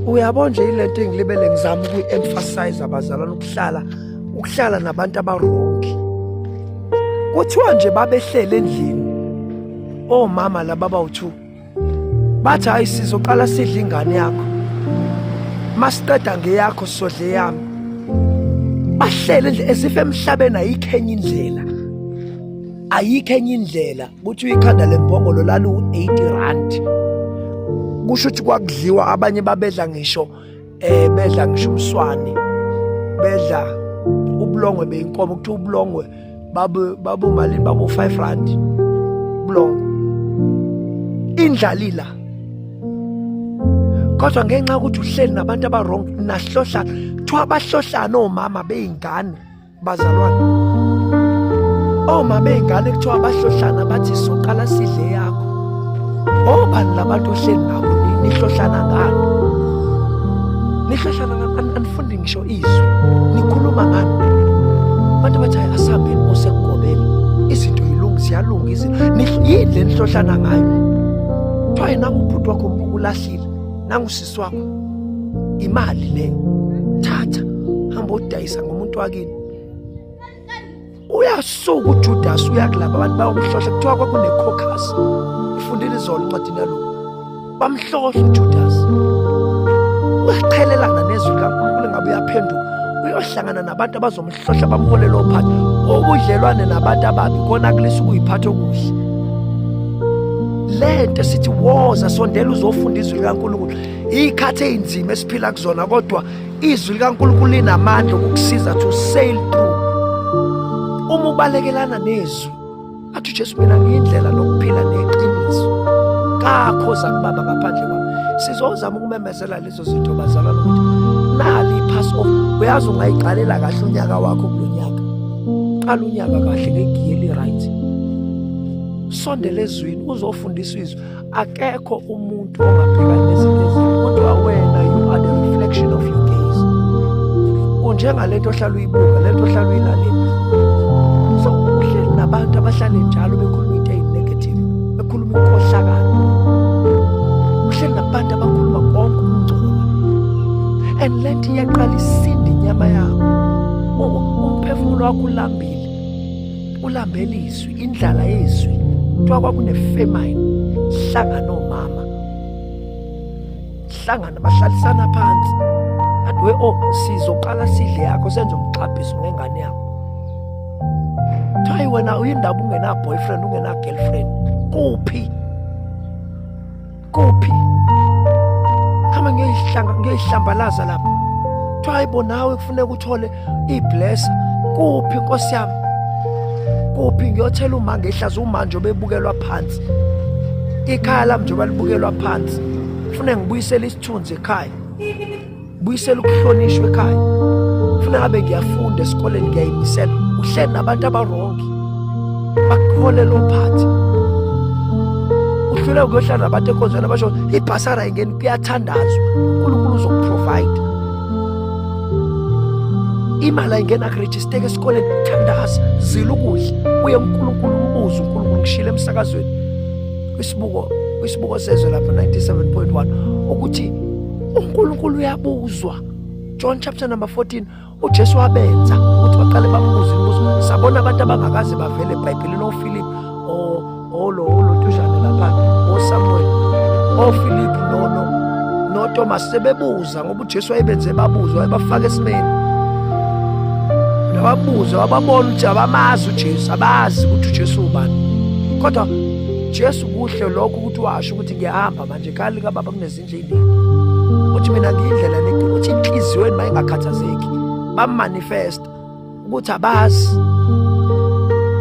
uyabo nje ilento engilibele ngizama ukuyi-emphasize abazalwane ukuhlala ukuhlala nabantu abarongi kuthiwa nje babehlele endlini omama oh, laba bawu-two bathi hhayi sizoqala sidle ingane yakho masiqeda ngeyakho sodle yami bahlele nje esife emhlabeni ayikho enye indlela ayikho enye indlela kuthiwa ikhanda lembongolo lalu-80 rand kusho ukuthi kwakudliwa abanye babedla ngisho eh bedla ngisho umswane bedla ubulongwe beyinkomo kuthiwa ubulongwe babu babu malini babu 5 rand ubulongwe indlalila kodwa ngenxa ukuthi uhleli nabantu abawrong nahlohla kuthiwa abahlohlana omama beyingane bazalwane oma oh, bey'ngane kuthiwa bahlohlana bathi soqala sidle yakho obani oh, labantu ohleli nabo nihlohlana ngani nihlohlana ngani anifundi ngisho izwi nikhuluma ngani abantu bathi hayi asihambeni osekugobela izinto yilungi ziyalunga izinto yini le nihlohlana ngayo kuthiwa yena ngubhuti wakho ulahlile nangusisi usisi wakho imali leyo thatha hamba odayisa ngomuntu wakini uyasuka uJudas uyakulaba abantu bayokuhlohla kuthiwa kwakunecaucus ifundile izolo incwadini yaloko bamhlohla uJudas uyaqhelelana nezwi likaNkulunkulu ngabe uyaphenduka uyohlangana nabantu abazomhlohla hlohla bamhole lo phathi obudlelwane nabantu ababi kona kulisa ukuyiphatha okuhle lento sithi woza sondela uzofunda izwi likaNkulunkulu ikhathi einzima esiphila kuzona kodwa izwi likaNkulunkulu linamandla ukukusiza to sail through uma ubalekelana nezwi athi uJesu mina ngiyindlela nokuphila neqiniso kakho zakubaba ngaphandle kwami sizozama ukumemezela lezo zinto bazalwane ukuthi nali i-pass off uyazi ungayiqalela kahle unyaka wakho kulo nyaka qala unyaka kahle ngegiye eli-right sondela ezwini uzofundisa izwi akekho umuntu ongabhekana nezinto ezinto kodwa wena you are the reflection of your gaze unjengale nto ohlala uyibuka le nto ohlala uyilalela so uhleli nabantu abahlale njalo bekhuluma into eyi-negative bekhuluma inkohlakalo uhleli nabantu abakhuluma konke umngcola and le nto iyaqala isinde inyama yakho umphefumulo wakho ulambile ulambela izwi indlala yezwi kuthiwa kwakunefemine hlangana omama hlangana bahlalisana phansi athi we o oh, sizoqala sidle yakho senze umxhabhiso ngengane yakho thayi wena uyindaba ungena-boyfriend ungena-girlfriend kuphi kuphi hamba ngiyoyihlanga ngiyoyihlambalaza lapha kuthiwa hayibo nawe kufuneka uthole iblesa kuphi nkosi yami kuphi ngiyothela uma ngehlaza umanje obebukelwa phansi ikhaya lami njengoba libukelwa phansi fune ngibuyisele isithunzi ekhaya buyisela ukuhlonishwa ekhaya funa ngabe ngiyafunda esikoleni ngiyayimisela uhleli nabantu abarongi bakukhole lo phathi uhluleka kuyohlala nabantu enkonzweni abasho ibhasara ingeni kuyathandazwa unkulunkulu uzokuprovide imali ayingena kurejisteka esikoleni thandaza zila ukudla uye unkulunkulu umbuzo unkulunkulu kushile emsakazweni kwisibuko kwisibuko sezwe lapha 97.1 ukuthi uNkulunkulu uyabuzwa John chapter number 14 uJesu wabenza ukuthi baqale bambuze imibuzo sabona abantu abangakaze bavele eBhayibhelini oFilip olo olo tujane lapha oSamuel oFilip nono noThomas sebebuza ngoba uJesu wayebenze babuzwa wayebafaka esimeni wababuza wababona ukuthi abamazi uJesu abazi ukuthi uJesu ubani kodwa Jesu kuhle lokho ukuthi washo ukuthi ngiyahamba manje kali kababa kunezi endleleni uthi mina ngiyindlela lento uthi inhliziyo yenu mayingakhathazeki bamanifesta ukuthi abazi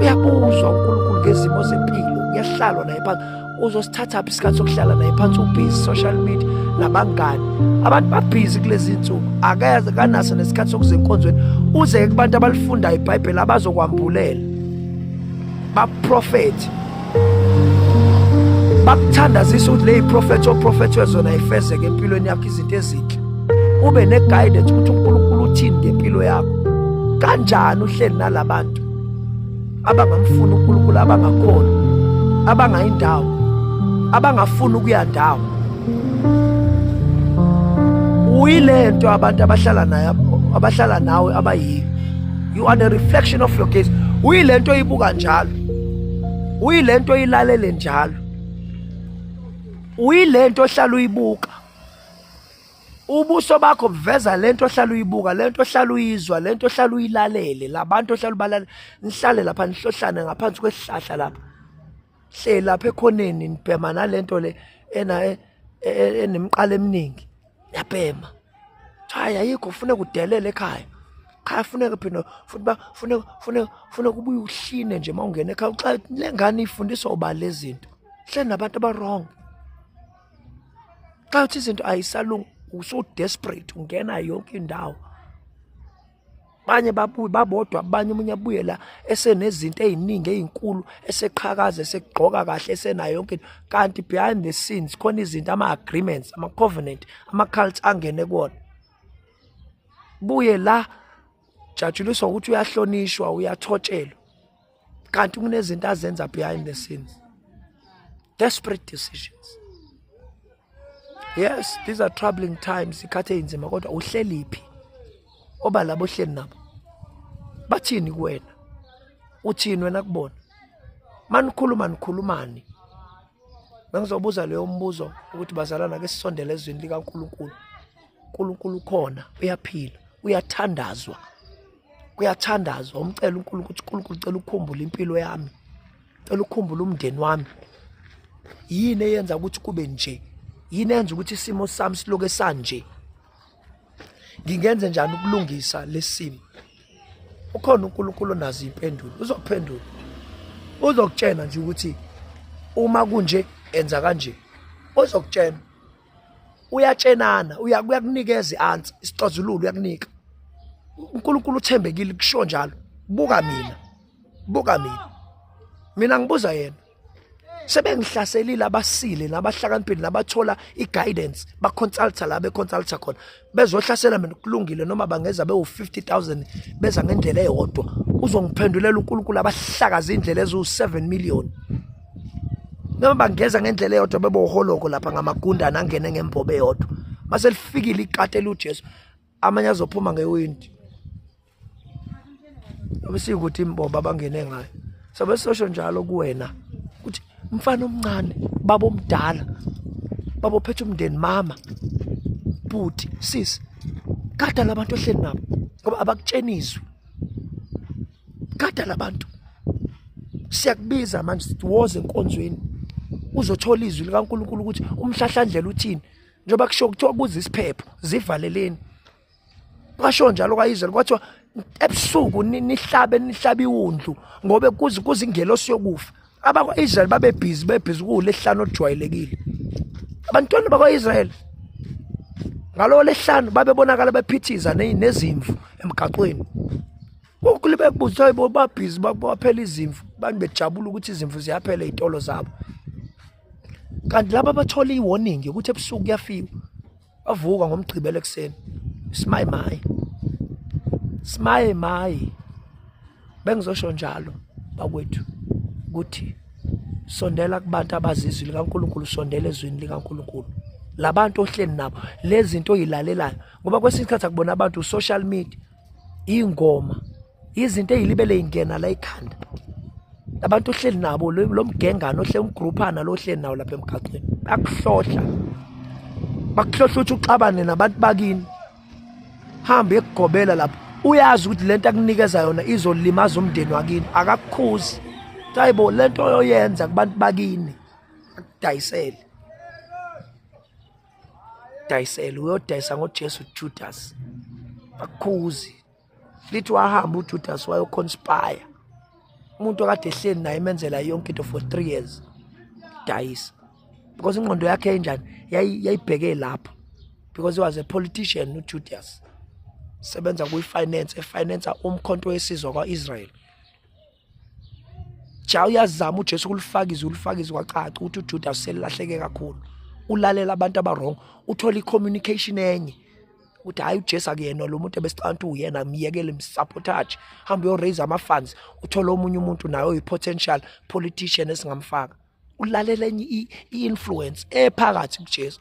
uyabuzwa uNkulunkulu ngezimo zempilo uyahlalwa naye phansi uzosithatha phi isikhathi sokuhlala naye phansi ubhizi social media nabangani abantu babhizi kulezi nsuku akeze kanaso nesikhathi sokuze enkonzweni uze kubantu abalifundayo ibhayibheli abazokwambulela baprofethi bakuthandazisa ukuthi leyi prophet oprofethwe zona ifezeke empilweni yakho izinto ezinhle ube ne-guidance ukuthi unkulunkulu uthini ngempilo yakho kanjani uhleli nala bantu abangamfuni unkulunkulu abangakhona abangayi ndawo abangafuni ukuya ndawo uyile nto abantu abahlala nayo abahlala nawe abayiyo you are the reflection of your gaze uyile nto oyibuka njalo uyilento oyilalele njalo uyilento ohlala uyibuka ubuso bakho buveza lento ohlala uyibuka lento ohlala uyizwa lento ohlala uyilalele labantu ohlala ubalale nihlale lapha nihlohlane ngaphansi kwesihlahla lapha hleli lapha ekhoneni nibhema nalento le ena e, e, e, enemqala eminingi yabhema hayi ayikho funeka udelele ekhaya cha funeka phina futhi ba funeka funeka funeka ubuye ushine nje uma ungena ekhaya xa le ngane ifundiswa uba lezi zinto hle nabantu abarong xa uthi izinto ayisalungi usu-desperate ungena yonke indawo abanye babuye babodwa abanye umunye abuye la esenezinto eziningi ezinkulu eseqhakaza esegqoka kahle esenayo yonke into kanti behind the scenes khona izinto ama agreements ama covenant ama cults angene kuona buye la jatshuliswa ukuthi uyahlonishwa uyathotshelwa kanti kunezinto azenza behind the scenes desperate decisions yes these are troubling times ikhathi eyinzima kodwa uhleliphi oba labo hleli nabo bathini kuwena uthini wena kubona manikhuluma nikhulumani bengizobuza leyo mbuzo ukuthi bazalana ke sisondele ezweni likaNkuluNkulu uNkulunkulu ukhona uyaphila uyathandazwa kuyathandazwa umcela uNkulunkulu ukuthi uNkulunkulu cela ukukhumbula impilo yami cela ukukhumbula umndeni wami yini eyenza ukuthi kube nje yini enza ukuthi isimo sami siloke sanje ngingenze njani ukulungisa lesimo ukhona uNkulunkulu onazo impendulo uzokuphendula uzokutshena nje ukuthi uma kunje enza kanje uzokutshena uyatshenana uyakunikeza i-answer isixazululo uyakunika uNkulunkulu uthembekile kusho njalo buka mina buka mina mina ngibuza yena sebengihlaselile abasile nabahlakaniphile nabathola i-guidance baconsulta la beconsulta khona bezohlasela mina kulungile noma bangeza bewu-50000 beza ngendlela eyodwa uzongiphendulela unkulunkulu abahlakaza iy'ndlela eziwu-7 million noma bangeza ngendlela eyodwa beboholoko lapha ngamagundana angene ngembobo eyodwa mase lifikile ikati eliwujesu amanye azophuma ngewindi Abasike ukuthi imbomba abangene ngayo. Sabe sosho njalo kuwena ukuthi umfana omncane, baba omdala, baba ophethe umndeni, mama, bhuti, sisi. Gada labantu ohleli nabo ngoba abakutshenizwe. Gada labantu. Siyakubiza manje sithi woze enkonzweni. Uzothola izwi likaNkuluNkulu ukuthi umhlahlandlela uthini. Njengoba kusho kuthiwa kuze isiphepho zivaleleni. kwasho njalo kwayizela kwathiwa ebusuku nihlabe nihlabe iwundlu ngobe kuze kuze ingelosi yokufa abakwa-israyeli babebhizi bebhizi kuwulehlanu olujwayelekile abantwana bakwa-israyeli ngalowo lehlanu babebonakala bephithiza nezimvu emgaqweni kukule bekubuza hayi bo babhizi baphela izimvu abantu bejabula ukuthi izimvu ziyaphela ey'tolo zabo kanti laba bathola i-warning yokuthi ebusuku kuyafiwa wavuka ngomgqibelo ekuseni simaye maye simaye maye bengizosho njalo bakwethu ukuthi sondela kubantu abazizwi likaNkuluNkulu sondela ezwini likaNkuluNkulu labantu ohleli nabo lezi zinto oyilalelayo ngoba kwesinye isikhathi akubona abantu social media iy'ngoma izinto ey'libele y'ngena la ikhanda abantu ohleli nabo lo mgengane ohle umgruphana lo ohleli nawo lapha emgaqweni bakuhlohla bakuhlohla ukuthi uxabane nabantu bakini hambe ekugobela lapho uyazi ukuthi le nto akunikeza yona izolimaza umndeni wakini akakukhuzi kuthiwa yibo le nto oyoyenza kubantu bakini akudayisele dayisele uyodayisa ngojesu judas bakhuzi lithi wahamba ujudas wayoconspire umuntu okade ehleli naye emenzela yonke into for three years dayisa because ingqondo yakhe enjani yayibheke lapho because he was a politician ujudas sebenza kuyi-finance efinansa umkhonto wesizwa kwa-israyeli ja uyazama uJesu kulifaka izwi ulifaka izwi kwacaca ukuthi uJuda uselilahleke kakhulu ulalela abantu abarong uthola i-communication enye ukuthi hhayi ujesu akuyena lo muntu ebesicabanga ukuthi uyena myekele msabotage hambe uyoraise ama-funds uthole omunye umuntu naye oyi-potential politician esingamfaka ulalela enye i-influence ephakathi kujesu